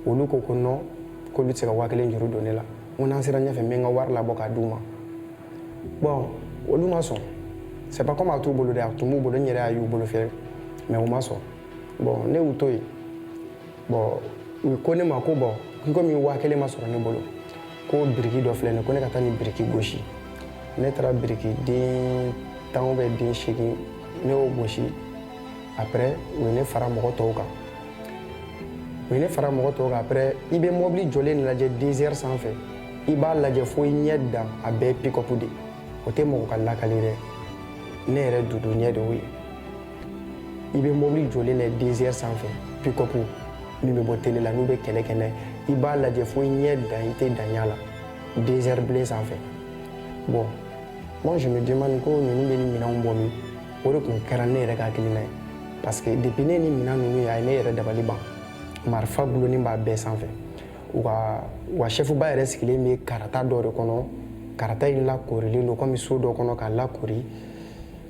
olu ko ko non k'olu tɛ se ka waa kelen juru don ne la n ko n'an sera ɲɛfɛ n bɛ n ka wari labɔ k'a d'u ma bon olu ma sɔn c'est pas comme a t'u bolo dɛ a tun b'u bolo n yɛrɛ y'a y'u bolo fɛ mais u ma sɔn bon ne y'u to yen bon u ko ne ma ko bon komi waa kelen ma sɔrɔ ne bolo ko biriki dɔ filɛ nin ko ne ka taa nin biriki gosi ne taara biriki den tan ou bien den seegin ne y'o gosi après u ye ne fara mɔgɔ tɔw kan après i bɛ mɔbili jɔlen lajɛ désert sanfɛ i b'a lajɛ fo i ɲɛ dan a bɛɛ pick-up de o tɛ mɔgɔ ka lakali dɛ ne yɛrɛ dudu ɲɛ de y'o ye i bɛ mɔbili jɔlen lajɛ désert sanfɛ pick-up min bɛ bɔ télé la n'u bɛ kɛlɛ kɛ n'a ye i b'a lajɛ fo i ɲɛ dan i tɛ dan y'a la désert bilen sanfɛ bon moi je me demande ko ninnu bɛ nin minɛnw bɔ min o de tun kɛra ne yɛrɛ ka hakilina ye parce que depuis ne ni minan ninnu ye a ye ne yɛrɛ dabali ban marifa gulonnen b'a bɛɛ sanfɛ u ka wa chef ba yɛrɛ sigilen bɛ karata dɔ de kɔnɔ karata in lakorilen don komi so dɔ kɔnɔ k'a lakori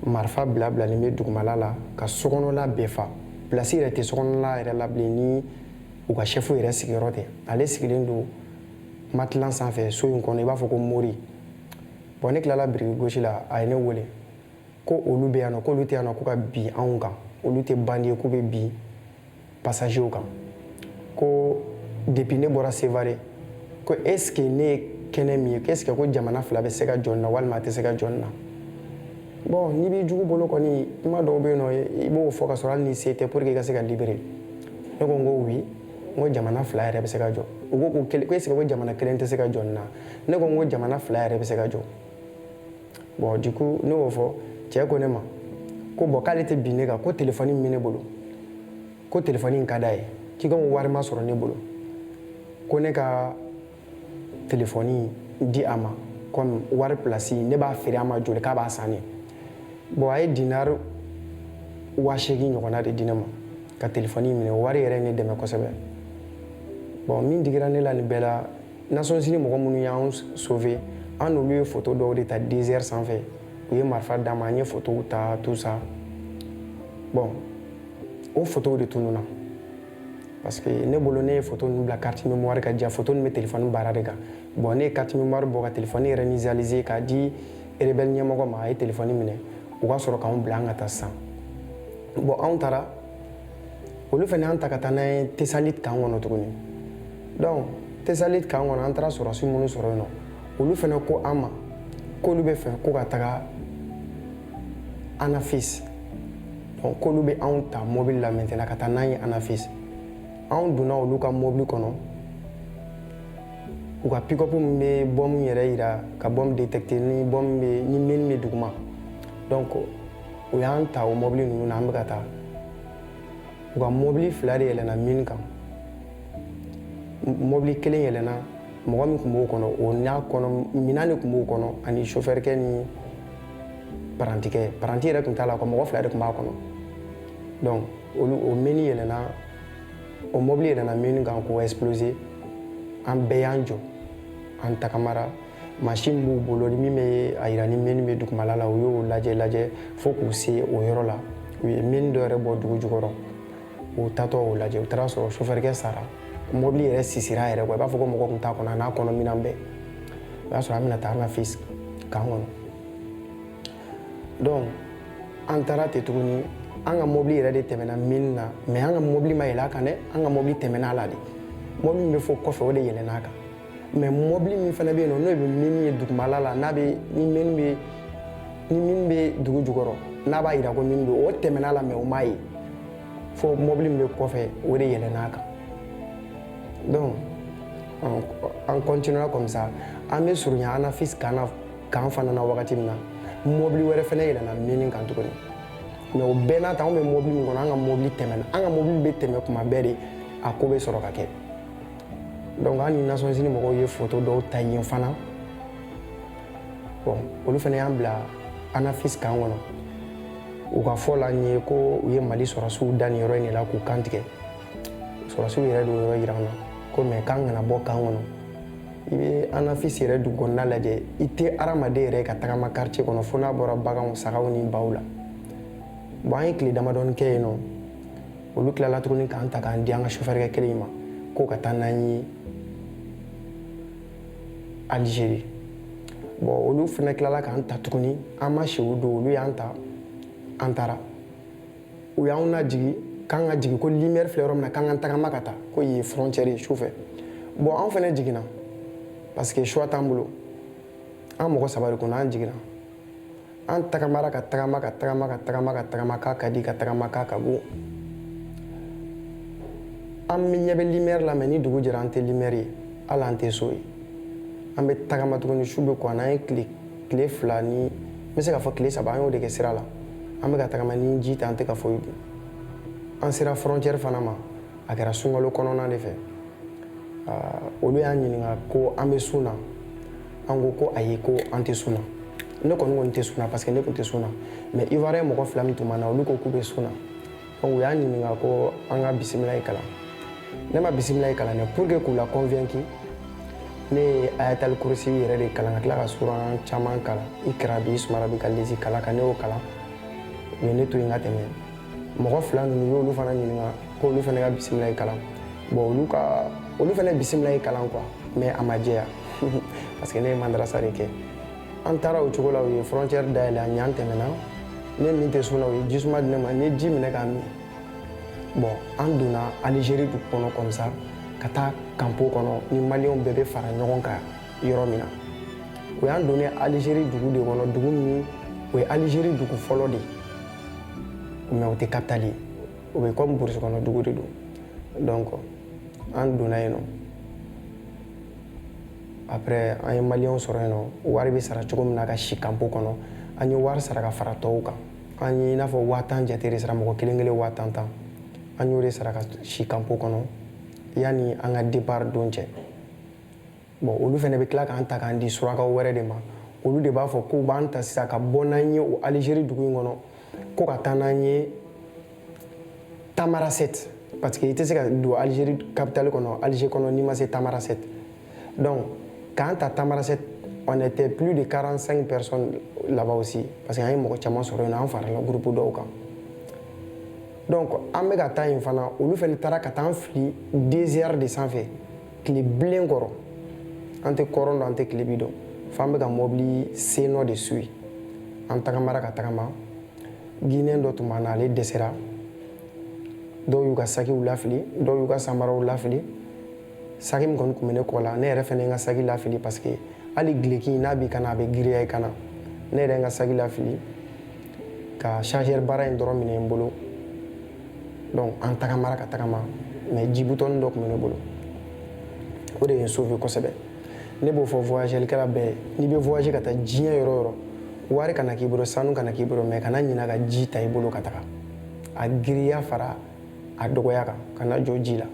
marifa bila bilalen bɛ dugumala la ka sokɔnɔla bɛɛ fa pilasi yɛrɛ tɛ sokɔnɔla yɛrɛ la bilen ni u ka chef yɛrɛ sigiyɔrɔ tɛ ale sigilen don matelas sanfɛ so in kɔnɔ i b'a fɔ ko mori bon ne tilala biriki gosi la a ye ne wele ko olu bɛ yan nɔ k'olu tɛ yan nɔ ko ka bin anw kan olu tɛ bandi ye k'u bɛ bin pasajew kan ko depuis ne bɔra sevare ko est ce que ne ye kɛnɛ min ye ko est ce que ko jamana fila bɛ se ka jɔ nin na walima a tɛ se ka jɔ nin na bon n'i b'i jugu bolo kɔni kuma dɔw bɛ yen nɔ i b'o fɔ ka sɔrɔ hali ni se tɛ pour que i ka se ka libérer ne ko n ko oui n ko jamana fila yɛrɛ bɛ se ka jɔ u ko ko est ce que ko jamana kelen tɛ se ka jɔ nin na ne ko n ko jamana fila yɛrɛ bɛ se ka jɔ bon du coup ne y'o fɔ cɛ ko ne ma ko bon k'ale tɛ bin ne kan ko telefɔni min bɛ ne bolo ko telefɔni in ka d'a ye ko comme wari ma sɔrɔ ne bolo ko ne ka telefɔni di a ma comme wari pilasi ne b'a feere a ma joli k'a b'a san ne bon a ye dinari waa seegin ɲɔgɔnna de di ne ma ka telefɔni minɛ wari yɛrɛ ne dɛmɛ kosɛbɛ bon min digira ne la nin bɛɛ la nations unies mɔgɔ minnu y'an sauver an n'olu ye photo dɔw de ta désert sanfɛ u ye marifa d'an ma an ye photow ta tout ça bon o photow de tununna parce que ne bolo ne ye photo ninnu bila carte mémoire kan jaa photo ninnu bɛ téléphone bara de kan bon ne ye carte mémoire bɔ ka téléphone yɛrɛ initialiser k'a di rebelle ɲɛmɔgɔ ma a ye téléphone minɛ u ka sɔrɔ k'anw bila an ka taa sisan bon anw taara olu fana y'an ta ka taa n'an ye tessalit camp kɔnɔ tuguni dɔnku tesaliti kan kɔnɔ an taara sɔrɔsi minnu sɔrɔ yen nɔ olu fana ko an ma k'olu bɛ fɛ ko ka taga anafisi bon k'olu bɛ anw ta mobili la maintenant ka taa n'an ye anafisi anw donna olu ka mobili kɔnɔ u ka pikopu min bɛ bɔmu yɛrɛ yira ka bɔmu detekite ni bɔmu bɛ ni mini bɛ duguma dɔnku u y'an ta o mobili ninnu na an bɛ ka taa u ka mɔbili fila de yɛlɛna mini kan mɔbili kelen yɛlɛna mɔgɔ min tun b'o kɔnɔ o n'a kɔnɔ minan de tun b'o kɔnɔ ani sofɛrikɛ ni parantikɛ paranti yɛrɛ tun t'a la ko mɔgɔ fila de tun b'a kɔnɔ donc olu o mini yɛlɛna o mɔbili yɛlɛna mini kan k'o exploser an bɛɛ y'an jɔ an tagamara Machine b'u bolo min bɛ a yira ni mini bɛ dugumala la u y'o lajɛ lajɛ fo k'u se o yɔrɔ la u ye mini dɔ yɛrɛ bɔ dugu jukɔrɔ u tatɔ o lajɛ u taara sɔrɔ sofɛrikɛ sara mobili yɛrɛ sisira yɛrɛ ko i b'a fɔ ko mɔgɔ tun t'a kɔnɔ a n'a kɔnɔ minan bɛɛ o y'a sɔrɔ an bɛna taa anafisi kan kɔnɔ donc an taara ten tuguni an ka mobili yɛrɛ de tɛmɛna mini na mɛ an ka mobili ma yɛlɛ a kan dɛ an ka mobili tɛmɛna a la de mobili min bɛ fo kɔfɛ o de yɛlɛn'a kan mɛ mɔbili min fana bɛ yen nɔ n'o bɛ mini ye dugumala la n'a bɛ ni mini bɛ ni mini bɛ dugu jukɔrɔ n'a b'a yira ko mini bɛ o tɛmɛna a la mɛ o m'a ye fo mɔbili min bɛ kɔfɛ o de yɛlɛn'a kan donc an continuera comme ça an bɛ surunya anafis kan na kan fana na wagati min na mɔbili wɛrɛ fana yɛlɛnna mini kan tuguni mɛ o bɛɛ n'a ta anw bɛ mɔbili min kɔnɔ an ka mɔbili tɛmɛna an ka mɔbili bɛ tɛmɛ kuma bɛɛ de a ko bɛ sɔrɔ ka kɛ donc an ni nations unies mɔgɔw ye foto dɔw ta yen fana bon olu fana y'an bila anafis kan kɔnɔ u ka fɔ la n ye ko u ye mali sɔrɔsiw da nin yɔrɔ in de la k'u kan tigɛ sɔrɔsiw yɛrɛ de y'o yɔrɔ yira an na ko mɛ k'an kana bɔ kan kɔnɔ i bɛ anafis yɛrɛ dugu kɔnɔna lajɛ i tɛ hadamaden yɛrɛ ka tagama quartier kɔnɔ fo n'a bɔra baganw sagaw ni baw la bon an ye tile damadɔni kɛ yen nɔ olu tilala tuguni k'an ta k'an di an ka sofɛrikɛ kelen in ma k'o ka taa n'an ye alizeri bɔn olu fana tilala k'an ta tuguni an ma si o don olu y'an ta an taara u y'anw lajigi k'an ka jigin ko limɛri filɛ yɔrɔ min na k'an ka tagama ka taa ko yen ye frontiɛri ye su fɛ bɔn anw fana jiginna parce que choix t'an bolo an mɔgɔ saba de kun an jiginna an tagamara ka tagama ka tagama ka tagama ka tagama k'a ka di ka tagama k'a ka go an bɛ ɲɛ bɛ limɛri la mais ni dugu jɛra an tɛ limɛri ye hali an tɛ so ye an bɛ tagama tuguni su bɛ ko an an ye tile tile fila ni n bɛ se k'a fɔ tile saba an y'o de kɛ sira la an bɛ ka tagama ni ji tɛ an tɛ ka foyi dun an sera frontiɛri fana ma a kɛra sunkalo kɔnɔna de fɛ olu y'an ɲininka ko an bɛ sun na an ko ko ayi ko an tɛ sun na ne kɔni ko n tɛ sun na parce que ne tun tɛ sun na mais ivoirien mɔgɔ fila min tun b'an na olu ko k'u bɛ sun na donc u y'an ɲininka ko an ka bisimilayi kalan ne ma bisimilayi kalan dɛ pour que k'u la convaincu ne ye ayatali kurusi yɛrɛ de kalan ka tila ka suran caman kalan ikra bisimi rabika lezi kalaka ne y'o kalan u ye ne to yen ka tɛmɛ mɔgɔ fila ninnu y'olu fana ɲininka ko olu fana ka bisimilayi kalan bon olu ka olu fana bisimilayi kalan quoi mais a ma jɛya parce que ne ye madarasa de kɛ an taara o cogo la u ye frontière dayɛlɛ an ye an tɛmɛna ne min tɛ sun na u ye jisuma di ne ma n ye ji minɛ k'a min bon an donna Algérie dugu kɔnɔ comme ça ka taa kanpo kɔnɔ ni maliyɛnw bɛɛ bɛ fara ɲɔgɔn kan yɔrɔ min na u y'an donnen Algérie dugu de kɔnɔ dugu min o ye Algérie dugu fɔlɔ de ye mais o tɛ capitale ye o bɛ comme burusi kɔnɔ dugu de don donc an donna yen nɔ après an ye maliyɛnw sɔrɔ yen nɔ wari bɛ sara cogo min na ka si kanpo kɔnɔ an ye wari sara ka fara tɔw kan an ye i n'a fɔ waa tan jate de sara mɔgɔ kelen kelen waa tan tan an y'o de sara ka si kanpo kɔnɔ yanni an ka départ don cɛ Bon olu fana bɛ tila k'an ta k'an di surakaw wɛrɛ de ma olu de b'a fɔ k'u b'an ta sisan ka bɔ n'an ye o alizeri dugu in kɔnɔ ko ka taa n'an ye tamarasɛti parce que i tɛ se ka don alizeri kapitali kɔnɔ alize kɔnɔ n'i ma se tamarasɛti donc k'an ta tamarasɛti on était plus de 45 personnes là-bas aussi parce que an ye mɔgɔ caman sɔrɔ yen an farala groupe dɔw kan donc an bɛ ka taa yen fana olu fana taara ka taa an fili désert de sanfɛ tile bilen kɔrɔ an tɛ kɔrɔn dɔn an tɛ tilebi dɔn fo an bɛ ka mɔbili sennɔ de suivre an tagamara ka tagama guinéen dɔ tun b'an na ale dɛsɛra dɔw y'u ka sakiw lafili dɔw y'u ka samaraw lafili saki min kɔni tun bɛ ne kɔ la ne yɛrɛ fana ye n ka saki lafili parce que hali gileki n'a b'i kan na a bɛ giriya i kan na ne yɛrɛ ye n ka saki lafili ka chargeur bara in dɔrɔn minɛ n bolo donc an tagamara ka tagama mais jibutɔni dɔ tun bɛ ne bolo o de ye n sauver kosɛbɛ ne b'o fɔ voyagelikɛla bɛɛ n'i bɛ voyager ka taa diɲɛ yɔrɔ o yɔrɔ wari kana k'i bolo sanu kana k'i bolo mais kana ɲina ka ji ta i bolo ka taga a giriya fara a dɔgɔya kan kana jɔ ji la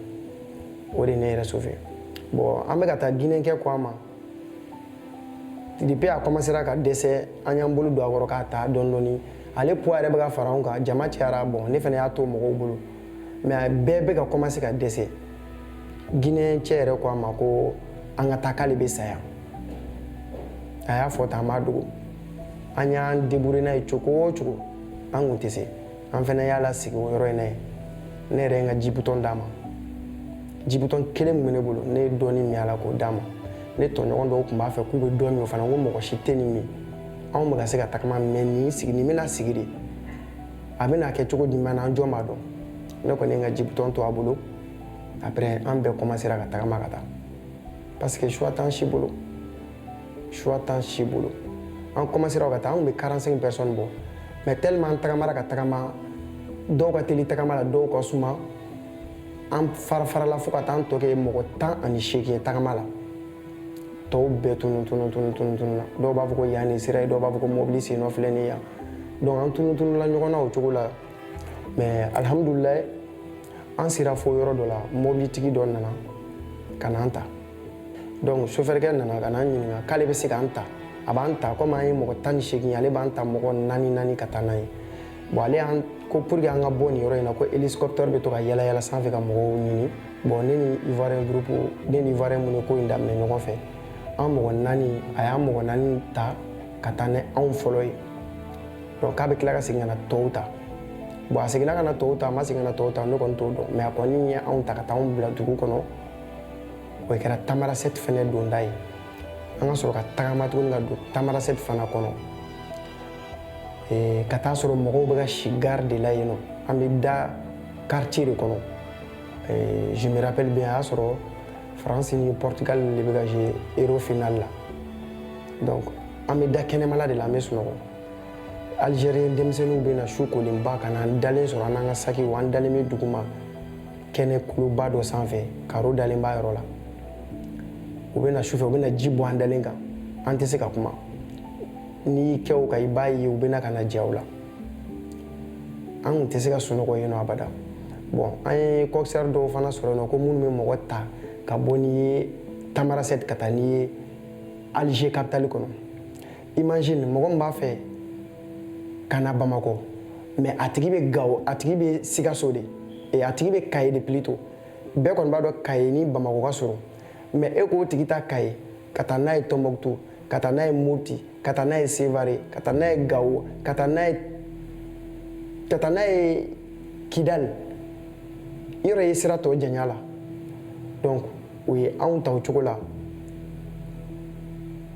o de ye ne yɛrɛ sauver bon an bɛ ka taa guinée kɛ ko a ma depuis a commencera ka dɛsɛ an y'an bolo don a kɔrɔ k'a ta dɔɔni dɔɔni ale poids yɛrɛ bɛ ka fara anw kan jama cayara bon ne fana y'a to mɔgɔw bolo mais bɛɛ bɛ ka commencer ka dɛsɛ guinéen cɛ yɛrɛ ko an ma ko an ka taa k'ale bɛ sa yan a y'a fɔ tan an b'a dogo an y'an débrouiller n'a ye cogo o cogo an kun tɛ se an fana y'a lasigi o yɔrɔ in na yen ne yɛrɛ ye n ka jibutɔn d'a ma jibutɔn kelen min bɛ ne bolo ne ye dɔɔni min a la k'o d'a ma ne tɔɲɔgɔn dɔw tun b'a fɛ k'u bɛ dɔ min o fana ko mɔgɔ si tɛ nin min anw bɛ ka se ka tagama mais nin sigi nin bɛna sigi de a bɛna kɛ cogo jumɛn na an jɔn b'a dɔn ne kɔni ye n ka jibutɔn to a bolo après an bɛɛ commencera ka tagama ka taa parce que choix t'an si bolo choix t'an si bolo an commencera ka taa anw bɛ 45 personnes bɔ mais tellement an tagamara ka tagama dɔw ka teli tagama la dɔw ka suma an farafarala fo ka taa an tɔ kɛ mɔgɔ tan ani seegin ye tagama la tɔw bɛɛ tunu tunu tunu tunu tununa dɔw b'a fɔ ko yan nin sira ye dɔw b'a fɔ ko mɔbili sennɔ filɛ nin yan donc an tunu tunula ɲɔgɔn na o cogo la mais alhamdulilayi an sera fo yɔrɔ dɔ la mɔbilitigi dɔ nana ka n'an ta donc sofɛrikɛ nana ka n'an ɲininka k'ale bɛ se k'an ta a b'an ta komi an ye mɔgɔ tan ni seegin ye ale b'an ta mɔgɔ naani naani ka taa n'a ye bon ale y'an ko pour que an ka bɔ nin yɔrɔ in na ko hélicoptère bɛ to ka yala yala sanfɛ ka mɔgɔw ɲini bon ne ni ivoirien groupe ne ni ivoirien minnu ye ko in daminɛ ɲɔgɔn fɛ an mɔgɔ naani a y'an mɔgɔ naani ta ka taa ni anw fɔlɔ ye donc k'a bɛ tila ka segin ka na tɔw ta bon a seginna ka na tɔw ta a ma segin ka na tɔw ta ne kɔni t'o dɔn mais a kɔni ye anw ta ka taa anw bila dugu kɔnɔ o kɛra tamarasɛti fɛnɛ donda ye an ka sɔrɔ ka tagama tuguni ka don tamarasɛti fana kɔnɔ eh, ka taa sɔrɔ mɔgɔw bɛ ka si gari de la yen nɔ an bɛ da quartier de kɔnɔ eh, je me rappelle bien a y'a sɔrɔ france ni portugal de bɛ ka jouer euro final la donc an bɛ da kɛnɛmala de la an bɛ sunɔgɔ algérien denmisɛnninw bɛ na su kolenba ka na an dalen sɔrɔ an n'an ka sakiw an dalen bɛ duguma kɛnɛ kuluba dɔ sanfɛ karo dalen b'a yɔrɔ la u bɛ na sufɛ u bɛna ji bɔn an dalen kan an tɛ se ka kuma n'i y'i kɛ u kan i b'a ye u bɛ na ka na ja u la an kun tɛ se ka sunɔgɔ yen nɔ abada bon an ye kɔkisɛri dɔw fana sɔrɔ yen nɔ ko minnu bɛ mɔgɔ ta ka bɔ n'i ye tamarasɛti ka taa n'i ye alger kapitali kɔnɔ imagine mɔgɔ min b'a fɛ ka na bamakɔ mais a tigi bɛ gawo a tigi bɛ sikaso de e a tigi bɛ kaye de plutôt bɛɛ kɔni b'a dɔn kaye ni bamakɔ ka surun mais e k'o tigi ta kaye ka taa n'a ye tɔnbɔkutu ka taa n'a ye mopti ka taa n'a ye sevare ka taa n'a ye gawo ka taa n'a ye ka taa n'a ye kidali i yɛrɛ ye sira tɔ janya la donc o ye anw ta o cogo la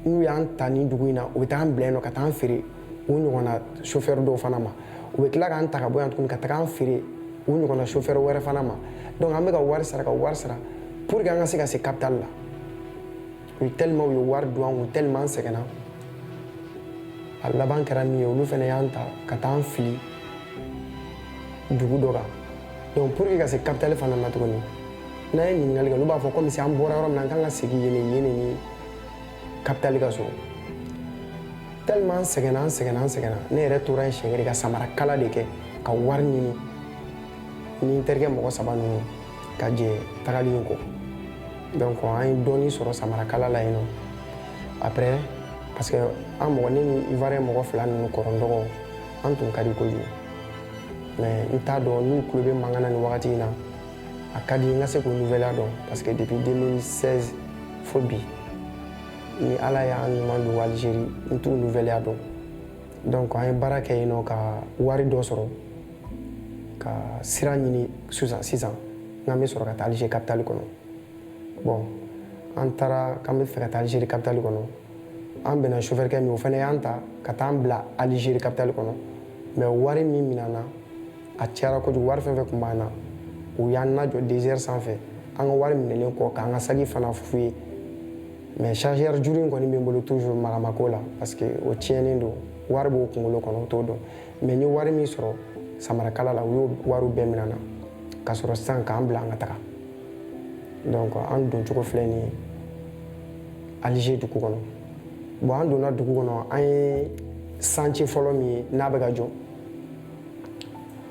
n'u y'an ta nin dugu in na u bɛ taa an bila yen nɔ ka taa an feere u ɲɔgɔnna sofɛri dɔw fana ma u bɛ tila k'an ta ka bɔ yan tuguni ka taga an feere u ɲɔgɔnna sofɛri wɛrɛ fana ma donc an bɛ ka wari sara ka wari sara pour que an ka se ka se capitale la u tellement u ye wari don an kun tellement an sɛgɛnna a laban kɛra min ye olu fana y'an ta ka taa an fili dugu dɔ kan donc pour que ka se capitale fana na tuguni n'an ye ɲininkali kɛ olu b'a fɔ komi si an bɔra yɔrɔ min na an kan ka segin yen yen ni kapitali ka surun tellement an sɛgɛnna an sɛgɛnna an sɛgɛnna ne yɛrɛ tora yen siɲɛ kelen ka samara kala de kɛ ka wari ɲini ni n terikɛ mɔgɔ saba ninnu ka jɛ tagali in kɔ donc an ye dɔɔni sɔrɔ samara kala la yen nɔ après parce que an mɔgɔ ne ni ivoirien mɔgɔ fila ninnu kɔrɔ n dɔgɔ an tun ka di kojugu mais n t'a dɔn n'u tulo bɛ mankan na nin wagati in na a ka di n ka se k'u nouvelle dɔn parce que depuis 2016 fo bi ni ala y'an ɲuman don algérie n t'u nouvelle dɔn donc an ye baara kɛ yen nɔ ka wari dɔ sɔrɔ ka sira ɲini sisan sisan n'an bɛ sɔrɔ ka taa algérie capitale kɔnɔ bon an taara k'an bɛ fɛ ka taa algérie capitale kɔnɔ an bɛnna chauffeur kɛ min o fana y'an ta ka taa an bila algérie capitale kɔnɔ mais wari min minɛna a cayara kojugu wari fɛn fɛn tun b'an na u y'an lajɔ dezɛri sanfɛ an ka wari minɛlen kɔ k'an ka saki fana fouiller mais chargeur juru in kɔni bɛ n bolo toujours maga ma k'o la parce que o tiɲɛnen don wari b'o kunkolo kɔnɔ u t'o dɔn mais n ye wari min sɔrɔ samarakala la u y'o wariw bɛɛ minɛ n na ka sɔrɔ sisan k'an bila an ka taga donc an don cogo filɛ nin ye alger dugu kɔnɔ bon an donna dugu kɔnɔ an ye santiye fɔlɔ min ye n'a bɛ ka jɔ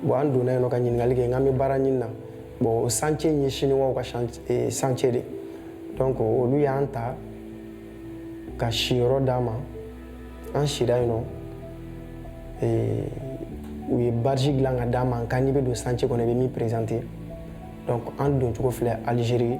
bon an donna yen nɔ ka ɲininkali kɛ n k'an bɛ baara ɲini na bon santiye in ye siniwaw ka santiye de donc olu y'an ta ka siyɔrɔ d'an ma an sira yen nɔ u ye badge dilan ka d'an ma nka n'i bɛ don santiye kɔnɔ i bɛ min perezante donc an doncogo filɛ alizeri